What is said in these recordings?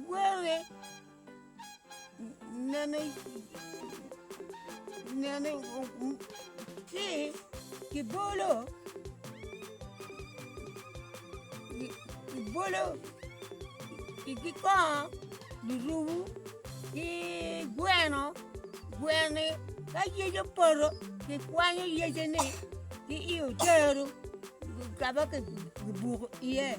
Were nene nene ki kibolo kibolo ki kongo lurumo ki gweno gweni ka yec opoto kikwanyo yecene ki i odero kama kibuko iye.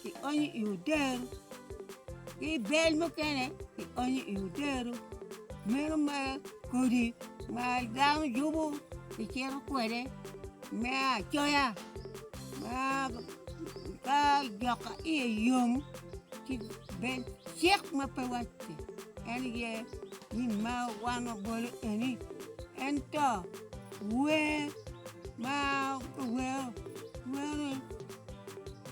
kionyo i odero, ki bel mukene kionyo i odero, meno ma kodi ma dano yubo kicito kwede me acoya ma ka dok ka iye yom ci bed cik ma pe wacci en aye ni ma wan wabolo eni ento wer ma kiwero wero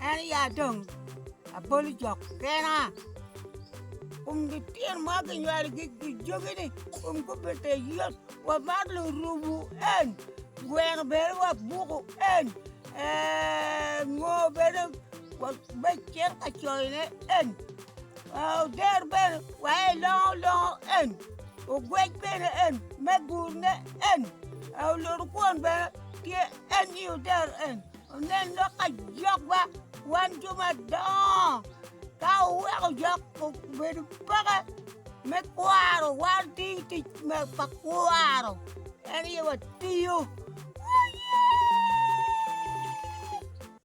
En ya dong aboli jok kena, kun gityen ma ginywalo jogi-ni kun gubite yot, wamar lurubu en, gweno bene wabuku en, ngo bene me cito ka coyone en, oder bene waye longo longo en, ogwec bene en me gurne en, oluto kwon bene tye en i oder en. Onen lok ka jokwa wan jo madongo ka wuweko jok obedo peke me kwaro wan ti tic pa kwaro en aye watiyo.